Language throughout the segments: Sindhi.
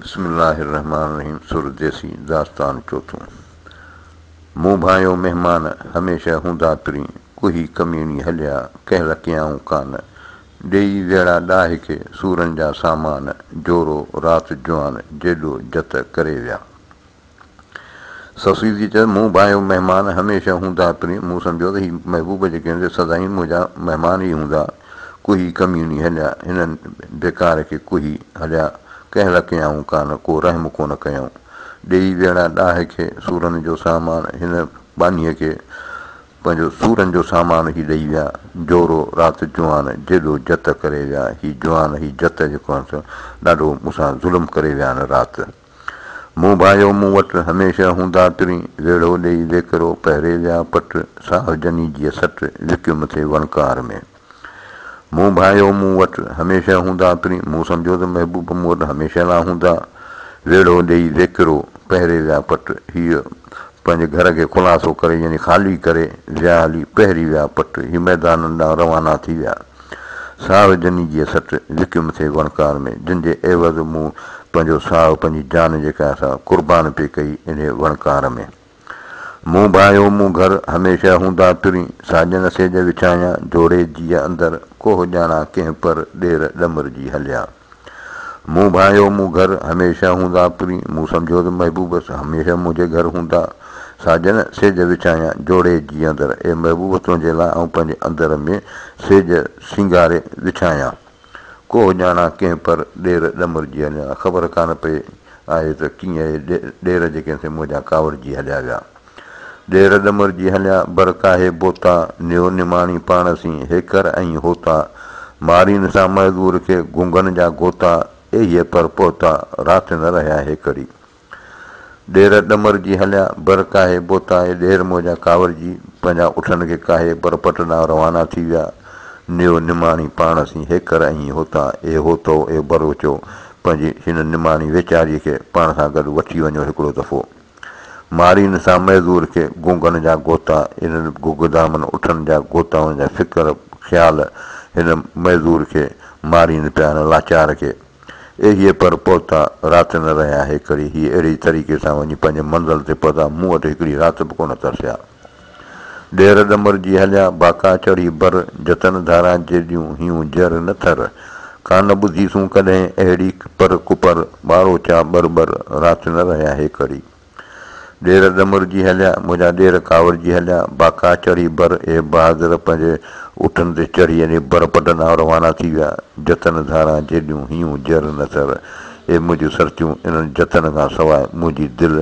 بسم الله الرحمٰن الرحيم سر ديسي داستان چوٿون مون ڀانئيو مهمان هميشه هوندا پرين ڪوهي ڪميڻي هليا ڪنهن لڪيائون ڪان ڏيئي ويڙا ڏاهي کي سورن جا سامان جورو رات جوان جيڏو جت ڪري ويا. سسئي جي چيس، مون ڀانئيو مهمان هميشه هوندا پرين مون سمجهيو ته هي محبوب جي گهن تي سدائين منهنجا مهمان ئي هوندا. ڪوهي ڪميوني هليا هنن ڊڪار کي ڪوهي هليا ڪنهن لا ڪيائون ڪانه ڪو رحم ڪونه ڪيائون. ڏيئي ويڙها ڏاهه کي سورن جو سامان هن ٻانهيء کي پنهنجو سورن جو سامان هي ڏيئي ويا جورو رات جوان جيڏو جت ڪري ويا هي جوان هي جت جيڪو آهن سو ڏاڍو مون سان ظلم ڪري ويا هن رات. مون ڀايو مون وٽ هميشه هوندا ترين ويڙهو ڏيئي ويڪرو پهري ويا پٽ ساهه جني جيء سٽ لڪيو مٿي وڻڪار ۾. مون ڀايو مون وٽ هميشه هوندا ترين مون سمجهيو ته محبوب مون وٽ هميشه لا هوندا ويڙهو ڏيئي ويڪرو پهري ويا پٽ هيء پنهنجي گهر کي خلاصو ڪري يعني خالي ڪري ويا هلي پهري ويا پٽ هي ميدانن ڏانهن روانا ٿي ويا. ساهه جني جيء سٽ لڪيم ٿي وڻڪار ۾، جن جي عيوض مون پنهنجو ساهه پنهنجي جان جي ڪاهه سان قربان پئي ڪئي انهيء وڻڪار ۾. مون ڀانئيو مون گهر، هميشه هوندا ترين، ساڄن سيج وڇايان، جوڙي جيء اندر، ڪوهه ڄاڻان ڪنهن پر، ڏير ڏمر جي هليا. مون ڀانئيو مون گهر هميشه هوندا پرين مون سمجهيو ته محبوب سان هميشه منهنجي گهر هوندا ساجن سيج وڇايان جوڙي جي اندر اي محبوب تنهنجي لاء آئون پنهنجي اندر ۾ سيج سينگاري وڇايان ڪوهه ڄاڻان ڪنهن پر ڏير ڏمرجي هليان خبر ڪانه پئي آهي ته ڪيئن اهي ڏير جيڪي سي منهنجا ڪاوڙجي هليا ويا. ڏير ڏمر جي هليا، بر ڪاهي بوتا، نيو نماڻي پاڻ سين، هيڪر ۽ هوتا، مارين سان معذور کي، گونگن جا گوتا، ايهي پر پهتا، رات نه رهيا هيڪڙي. ڏير ڏمر جي هليا، بر ڪاهي بوتا، اهي ڏير موجا ڪاوڙجي، پنهنجا اٺن کي ڪاهي، بر پٽ ڏانهن روانا ٿي ويا، نيو نماڻي پاڻ سين، هيڪر ۽ هوتا، اي هوتو، اي بروچو، پنهنجي هن نماڻي ويچاري کي، پاڻ سان گڏ وٺي وڃو هڪڙو دفعو. مارين سان معذور کي گونگن جا گوتا انهن گگدامن اٺن جا گوتائن جا فڪر خيال هن معذور کي مارين پيا هن لاچار کي ايهي پر پهتا رات نه رهيا هيڪري هي اهڙي طريقي سان وڃي پنهنجي منزل تي پهتا مون وٽ هڪڙي رات به ڪونه ترسيا. ڏير ڏمر جي هليا باڪا چڙهي بر، جتن ڌاران جيڏيون هيون جر نه ٿر، ڪانه ٻڌي سون ڪڏهن اهڙي پر ڪپر، ٻارو چا ٻر ٻر، رات نه رهيا هيڪڙي. ڏير ڏمر جي هليا منهنجا ڏير ڪاوڙجي هليا باڪا چڙهي بر، اهي بهادر پنهنجي اٺن تي چڙهي ايني بر پٽ ڏانهن روانا ٿي ويا، جتن ڌاران جيڏيون هيون جر نه ٿر، اهي منهنجيون سرتيون انهن جتن کان سواء منهنجي دل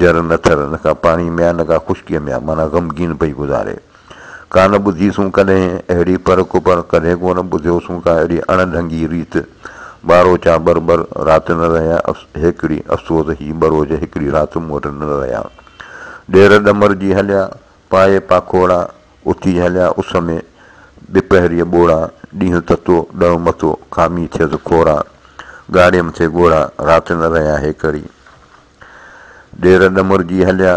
جر نه ٿر نه ڪا پاڻي ۾ آ نه ڪا خشڪيء ۾ آ معنيٰ غمگين پئي گذاري. ڪا نه ٻڌيسون ڪڏهن اهڙي پر ڪپر ڪڏهن ڪو نه ٻڌيوسون ڪا اهڙي اڻ ڍنگي ريت ٻارو چا ٻر ٻر رات نه رهيا هيڪڙي افسوس هي ٻروج هيڪڙي رات مون وٽ نه رهيا ڏير ڏمر جي هليا پائي پاکوڙا اٿي هليا اس ۾، ڏپهريء ٻوڙا، ڏينهن تتو، ڏهو مٿو، کامي ٿيس کورا، ڳاڙهي مٿي ڳوڙها، رات نه رهيا هيڪري. ڏير ڏمرجي هليا،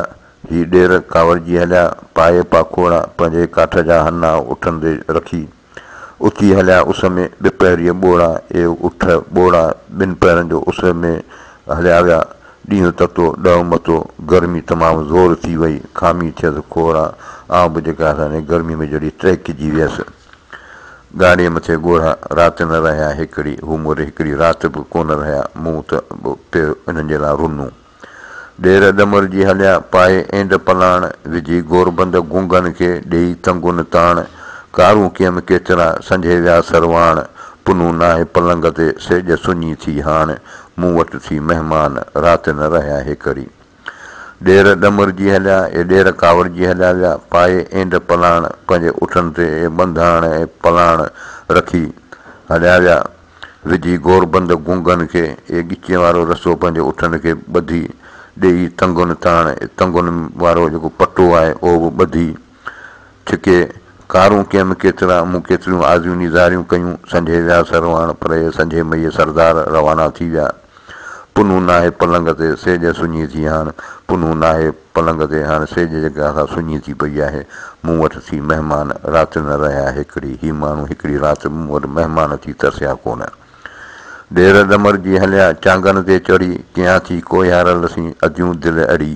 هي ڏير ڪاوڙجي هليا، پائي پاکوڙا، پنهنجي ڪاٺ جا هنا اٺن تي رکي. اٿي هليا اس ۾، ٻه پهريء ٻوڙا، اي اٺ ٻوڙا، ٻن پهرن جو اس ۾، هليا ويا. ڏينهن تتو، ڏهو متو، گرمي تمام زور ٿي وئي، کامي ٿيس کوڙا، آئون به جيڪا هساني گرميء ۾ جهڙي ٽهڪجي ويس. ڳاڙهي مٿي ڳوڙها، رات نه رهيا هڪڙي، هو موري هڪڙي رات به ڪونه رهيا، مون ته به پيو انهن جي لاء رنون. ڏير ڏمر جي هليا پائي اينڊ پلاڻ وجهي گوربند گونگن کي ڏيئي تنگن تاڻ ڪارون ڪيم ڪيترا سنجهي ويا سرواڻ پنهون ناهي پلنگ تي سيڄ سڃي ٿي هاڻ مون وٽ ٿي مهمان رات نه رهيا هيڪري ڏير ڏمر جي هليا اي ڏير ڪاوڙ جي هليا ويا پائي اينڊ پلاڻ پنهنجي اٺن تي اي ٻنڌاڻ اي پلاڻ رکي هليا ويا وجهي گوربند گونگن کي اهي ڳچين وارو رسو پنهنجي اٺن کي ٻڌي ڏيئي تنگن تاڻ تنگن وارو جيڪو پٽو آهي اهو به ٻڌي ڇڪي ڪارون ڪيم ڪيترا مون ڪيتريون آزيون نيزاريون ڪيون سنجهي ويا سرواڻ پرهي سنجهي مئي سردار روانا ٿي ويا. پنهون ناهي پلنگ تي سيڄ سڃي ٿي هاڻ پنهون ناهي پلنگ تي هاڻ سيڄ جيڪا سا سڃي ٿي پئي آهي مون وٽ ٿي مهمان رات نه رهيا هڪڙي هي ماڻهو هڪڙي رات مون وٽ مهمان ٿي ترسيا ڪونه ڏير ڏمر جي هليا چانگن تي چڙهي ڪيان ٿي ڪوهيارل سين اديون دل اڙي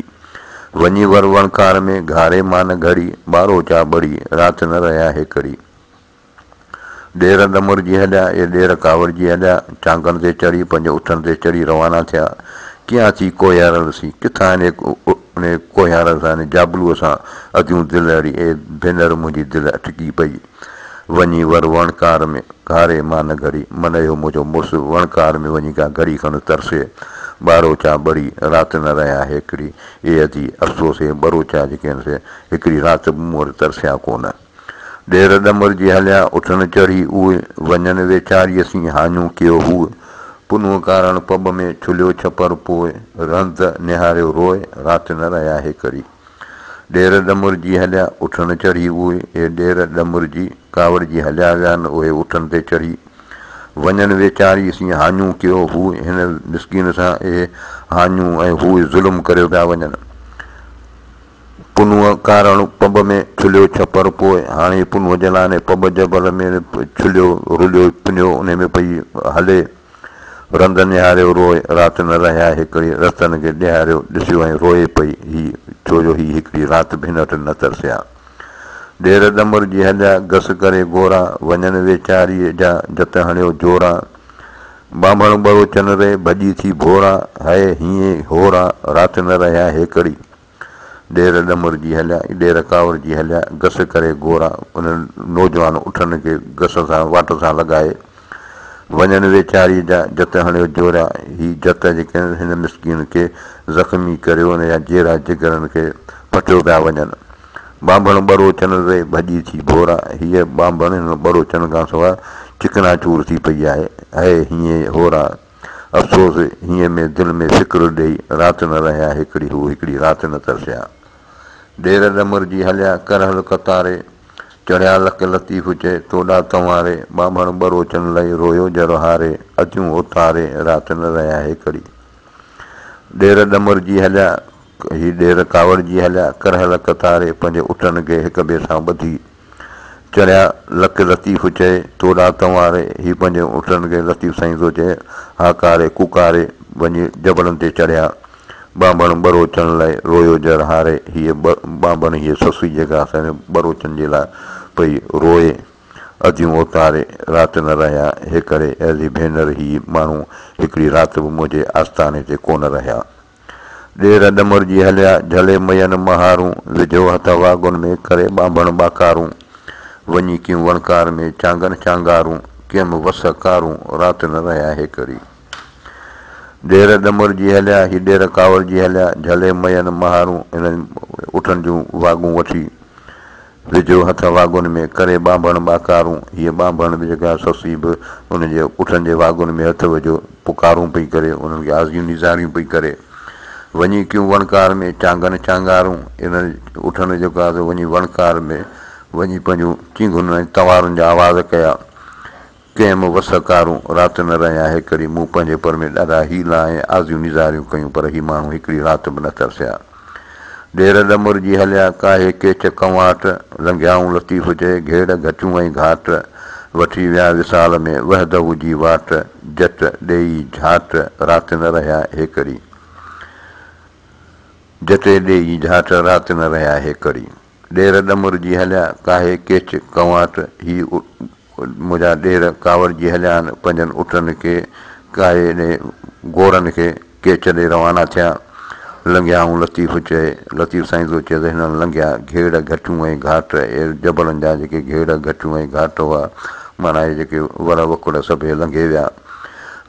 وڃي ور وڻڪار ۾ گهاري مان نه گهڙي ٻارو چا ٻڙي رات نه رهيا هڪڙي. ڏير دمرجي هليا، اي ڏير ڪاوڙجي هليا، ٽانگن تي چڙهي، پنهنجي اٺن تي چڙهي روانا ٿيا. ڪيئان ٿي ڪوهيارل سين، ڪٿان هن ان ڪوهيارل سان، هن جابلوء سان اڳيون دل اڙي، اي ڀينر منهنجي دل اٽڪي پئي. وڃي ور وڻڪار ۾ گهاري مان نه گهڙي، من اهو منهنجو مڙس وڻڪار ۾ وڃي ڪا گهڙي کن ترسي، ٻاروچا ٻڙي رات نه رهيا هيڪڙي، اي ادي افسوس هي ٻروچا جيڪي هن سي هڪڙي رات به مون وٽ ترسيا ڪونه. ڏير ڏمر جي هليان اٺن چڙهي اهي، وڃن ويچاريء سين هاڃون ڪيو هوء، پنهون ڪارڻ پٻ ۾ ڇليو ڇپر پوء، رند نهاريو روء رات نه رهيا هي ڪري. ڏير ڏمر جي هليان اٺن چڙهي اهي، اي ڏير ڏمر جي، ڪاوڙجي هليا ويا نه اهي اٺن تي چڙهي، وڃن ويچاريء سين هاڃون ڪيو هوء، هن مسڪين سان اهي هاڃون ۽ هوء ظلم ڪريو پيا وڃن. پنهونء ڪارڻ پنب ۾ ڇليو ڇپر پوء هاڻي پنهونء جلاني پنب جبل ۾ ڇليو رليو پنيو انهي ۾ پئي هلي رند نهاريو روء رات نه رهيا هيڪڙي رستن کي ڏيهاريو ڏسيو ۽ روئي پئي هي ڇو جو هي هيڪڙي رات به هن وٽ نه ترسيا ڏير ڏمر جي هليا گس ڪري گورا وڃن ويچاريء جا جت هڻيو جورا ٻانڀڻ ٻرو چنري ڀڄي ٿي ڀورا هئي هيئي هورا رات نه رهيا هيڪڙي ڏير ڏمرجي هليا، ڏير ڪاوڙجي هليا، گس ڪري گورا انهن نوجوان اٺن کي گس سان واٽ سان لڳائي وڃن ويچاري جا جت هڻيو جوريا هي جت جيڪڏهن هن مسڪين کي زخمي ڪريو نه يا جيرا جگرن کي پٽيو پيا وڃن ٻانڀڻ ٻروچن ري ڀڄي ٿي ڀورا هيء ٻانڀڻ هن ٻروچن کان سواء چڪنا چور ٿي پئي آهي هيء هيئي هورا افسوس هينء ۾ دل ۾ فڪر ڏئي رات نه رهيا هڪڙي هو هڪڙي رات نه ترسيا ڏير ڏمرجي هليا ڪرهل ڪتاري چڙهيا لڪ لطيف چئي توڏا تنواري ٻانڀڻ ٻروچن لئي رويو جر هاري اڌيون اوتاري رات نه رهيا هڪڙي ڏير ڏمرجي هليا هي ڏير ڪاوڙجي هليا ڪرهل ڪتاري پنهنجي اٽن کي هڪ ٻئي سان ٻڌي چڙهيا لڪ لطيف چئي، تو ڏانهن تنواري، هي پنهنجي اٺن کي لطيف سائين ٿو چئي، هاڪاري ڪوڪاري، وڃي جبلن تي چڙهيا. ٻانڀڻ ٻروچن لئه رويو جر هاري، هيء ٻانڀڻ هيء سسئي جيڪا اسان ٻروچن جي لاء پئي روئي. اديون اوتاري رات نه رهيا، هيڪري اهلي ڀينر هي ماڻهو هڪڙي رات به منهنجي آستاڻي تي ڪونه رهيا. ڏير ڏمرجي هليا، جهلي مئين مهارون، وڌيو هٿ واڳن ۾، ڪري ٻانڀڻ ٻاڪارون، وڃي ڪيم وڻڪار ۾، چانگن چانگارون، ڪيم وس ڪارون، رات نه رهيا هيڪري. ڏير ڏمرجي هليا، هي ڏير ڪاوڙجي هليا، جهلي مئين مهارون، انهن اٺن جون واڳون وٺي، ويجهو هٿ واڳن ۾ ڪري ٻانڀڻ ٻاڪارون، هيء ٻانڀڻ به جيڪا سسي به ان جي اٺن جي واڳن ۾ هٿ ويجهو پڪارون پئي ڪري، انهن کي آزيون نيزاريون پئي ڪري. وڃي ڪيون وڻڪار ۾ چانگن چانگارون، انهن اٺن جيڪو آهي سو وڃي وڻڪار ۾ وڃي پنهنجون چينگهن ۽ تنوارن جا آواز ڪيا. ڪنهن مون وس ڪارون رات نه رهيا هيڪڙي مون پنهنجي پر ۾ ڏاڍا حيلا ۽ آزيون نيزاريون ڪيون پر هي ماڻهو هڪڙي رات به نه ترسيا ڍير ڏمر جي هليا ڪاهي ڪيچ ڪنواٽ لنگهيائون لطيف جي گهيڙ گهٽيون ۽ گهاٽ وٺي ويا وصال ۾ وحده جي واٽ جت ڏيئي جهاٽ رات نه رهيا هيڪڙي جت ڏيئي جهاٽ رات نه رهيا هيڪڙي. ڏير ڏمرجي هليا، ڪاهي ڪيچ ڪنواٽ، هي منهنجا ڏير ڪاوڙجي هليا آهن، پنهنجن اٽن کي ڪاهي ڏي، گورن کي ڪيچ ڏي روانا ٿيا. لنگهيائون لطيف چئي، لطيف سائين ٿو چئي ته هنن لنگهيا گهيڙ گهٽيون ۽ گهاٽ، اهي جبلن جا جيڪي گهيڙ گهٽيون ۽ گهاٽ هئا، معنيٰ اهي جيڪي ور وڪڙ سڀيئي لنگهي ويا.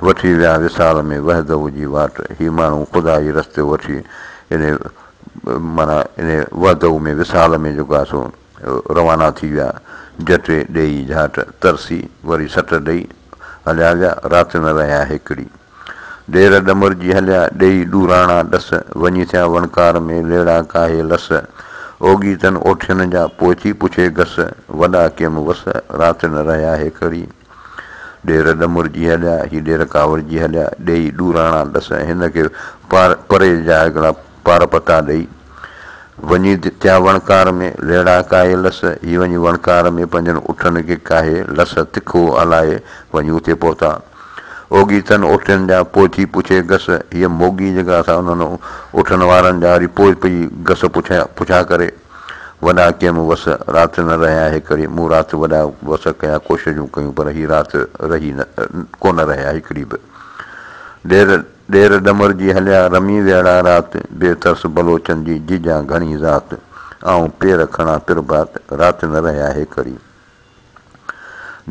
وٺي ويا وصال ۾ وحده جي واٽ، هي ماڻهو خدا جي رستي وٺي ايڏي معنيٰ انهيء وحدوء ۾ وصال ۾ جوڳا سو روانا ٿي ويا، جٽي ڏيئي جهاٽ ترسي، وري سٽ ڏيئي هليا ويا، رات نه رهيا هيڪڙي، ڏير ڏمرجي هليا، ڏيئي ڏوراڻا ڏس، وڃي ٿيا وڻڪار ۾ ليڙا ڪاهي لس، اوڳي تن اوٺين جا، پوء ٿي پڇي گس، وڏا ڪيم وس، رات نه رهيا هيڪڙي. ڏير ڏمرجي هليا، هي ڏير ڪاوڙجي هليا، ڏيئي ڏوراڻا ڏس ۽ هن کي پري جا هڪڙا پار پتا ڏيئي، وڃي تيا وڻڪار ۾ ليڙا ڪاهي لس، هي وڃي وڻڪار ۾ پنهنجن اٺن کي ڪاهي لس، تکو هلائي وڃي اتي پهتا. اوڳي تن اوٺين جا پوء ٿي پڇي گس، هيء موڳي جيڪا سا انهن اٺن وارن جا وري پوء پئي گس پڇا ڪري. وڏا ڪيم وس رات نه رهيا هڪڙي مون رات وڏا وس ڪيا ڪوششون ڪيون پر هي رات رهي نه ڪونه رهيا هڪڙي به ڏير ڏير ڏمر جي هليا رمي ويڙا رات بي ترس بلوچن جي جيجان گهڻي ذات آئون پير کڻا پرڀات رات نه رهيا هيڪڙي.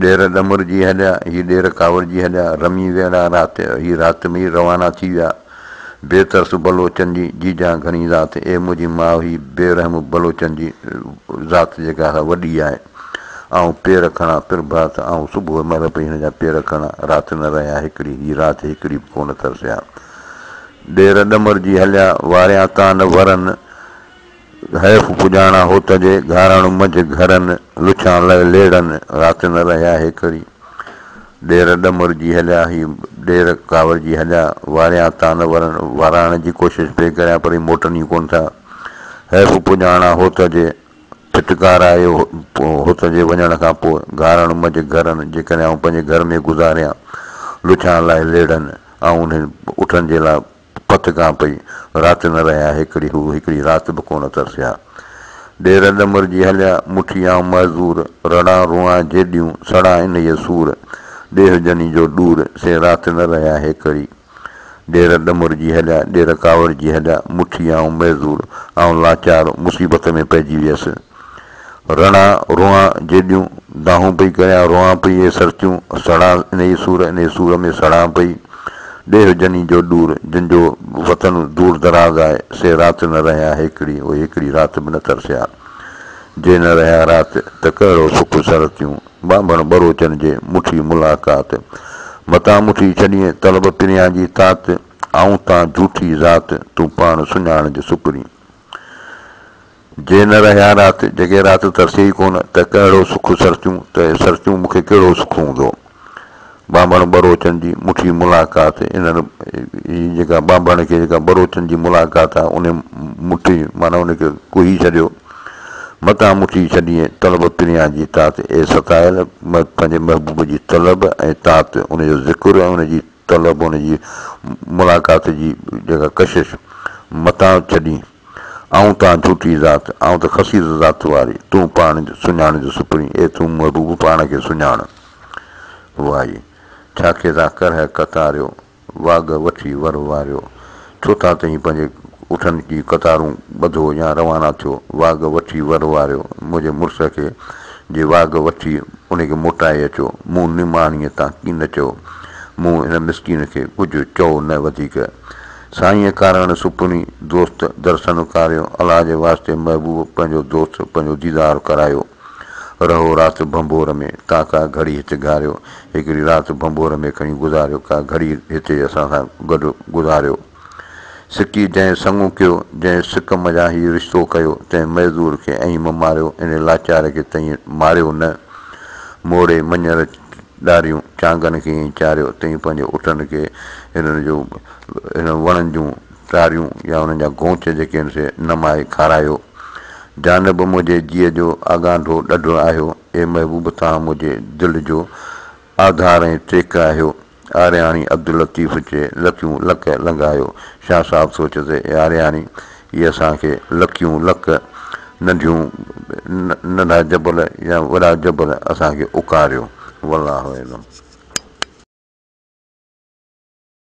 ڏير ڏمر جي هڏيا، هي ڏير ڪاوڙ جي هڏيا، رمي ويڙها رات، هي رات ۾ ئي روانا ٿي ويا. بي ترس بلوچن جي جيجان گهڻي ذات، اي منهنجي ماء هي بي رحم بلوچن جي ذات جيڪا سا وڏي آهي. آئون پير کڻان پرڀات، آئون صبح مهل پئي هن جا پير کڻان، رات نه رهيا هڪڙي، هي رات هڪڙي به ڪونه ترسيا. ڏير ڏمر جي هليا، واريان ڪانه ورن، حيف پڄاڻا هوت جي، گهاراڻو منجهه گهرن، لڇان لئه ليڙن، رات نه رهيا هيڪري. ڏير ڏمرجي هليا، هي ڏير ڪاوڙجي هليا، واريان تان نه ورن، واراڻ جي ڪوشش پئي ڪريان پر هي موٽن ئي ڪونه ٿا. حيف پڄاڻا هوت جي، ڦٽڪار آيو هوت جي وڃڻ کان پوء، گهاراڻو منجهه گهرن، جيڪڏهن آئون پنهنجي گهر ۾ گذاريان، لڇان لئه ليڙن، آئون انهن اٺن جي لاء. پت کان پئي رات نه رهيا هيڪڙي هو هيڪڙي رات به ڪونه ترسيا ڏير ڏمر جي هليا مٺي آئون معذور رڙان روئان جيڏيون سڙان انهيء سور ڏيهه جني جو ڏور سي رات نه رهيا هيڪڙي ڏير ڏمر جي هليا ڏير ڪاوڙجي هليا مٺي آئون معذور آئون لاچار مصيبت ۾ پئجي ويس. رڻا روئان جيڏيون دانهون پئي ڪريان روئان پئي اي سرتيون سڙان انهي سور انهي سور ۾ سڙان پئي ڏيھ جني جو ڏور جن جو وطن دور دراز آهي سي رات نه رهيا هيڪڙي اهي هيڪڙي رات به نه ترسيا جي نه رهيا رات ته ڪهڙو سک سرتيون ٻانڀڻ ٻروچن جي مٺي ملاقات متان مٺي ڇڏين طلب پريان جي تات آئون تان جھوٺي ذات تون پاڻ سڃاڻج سڪرين جي نه رهيا رات، جڳي رات ترسي ئي ڪونه، ته ڪهڙو سک سرچون، ته اهي سرچون مون کي ڪهڙو سک هوندو. ٻانڀڻ ٻروچن جي مٺي ملاقات، انهن هي جيڪا ٻانڀڻ کي جيڪا ٻروچن جي ملاقات آ، انهي مٺي معنيٰ ان کي ڪهي ڇڏيو، متان مٺي ڇڏيئين، طلب پريان جي تات، اي ستايل! پنهنجي محبوب جي طلب ۽ تات، ان جو ذڪر ۽ ان جي طلب ان جي ملاقات جي جيڪا ڪشش متان ڇڏين. آئون تان جھوٽي ذات، آئون ته خسيس ذات واري، تون پاڻ سڃاڻ جو سپرين، اي تون محبوب پاڻ کي سڃاڻ. وائي! ڇا کيس آ ڪرهه ڪتاريو، واڳ وٺي ور واريو. ٿو تان تهين پنهنجي اٺن جي قطارون ٻڌو يا روانا ٿيو واڳ وٺي ور واريو منهنجي مڙس کي جي واڳ وٺي انهي کي موٽائي اچو مون نماڻيء تان ڪي نه چيو مون هن مسڪين کي ڪجهه چئو نه وڌيڪ سائينء ڪاراڻ سپني دوست درسن ڪاريو الله جي واسطي محبوب پنهنجو دوست پنهنجو ديدار ڪرايو. رهو رات ڀنڀور ۾، ڪا ڪا گهڙي هت گهاريو. هڪڙي رات ڀنڀور ۾ کڻي گذاريو، ڪا گهڙي هتي اسان سان گڏ گذاريو. سڪي جنهن سڱو ڪيو، جنهن سڪ منجهان هي رشتو ڪيو، تنهن معذور کي ائين مه ماريو، ان لاچار کي تئين ماريو نه. موڙي مڃر ڏاريون، چانگن کي ائين چاريو، تئين پنهنجي اٺن کي هنن جو هنن وڻن جون. ٽاريون يا انهن جا گونچ جيڪي آهن سي نه مائي کارايو. جانب منهنجي جيء جو آڳانڍو ڏڍو آهيو، اي محبوب توهان منهنجي دل جو آڌار ۽ ٽيڪ آهيو. آرياڻي عبداللطيف چي لڪيون لڪ لنگهايو. شاهه صاحب ٿو چي ته اي آرياڻي هي اسان کي لڪيون لڪ ننڍيون ننڍا جبل يا وڏا جبل اسان کي اڪاريو. والله اعلم.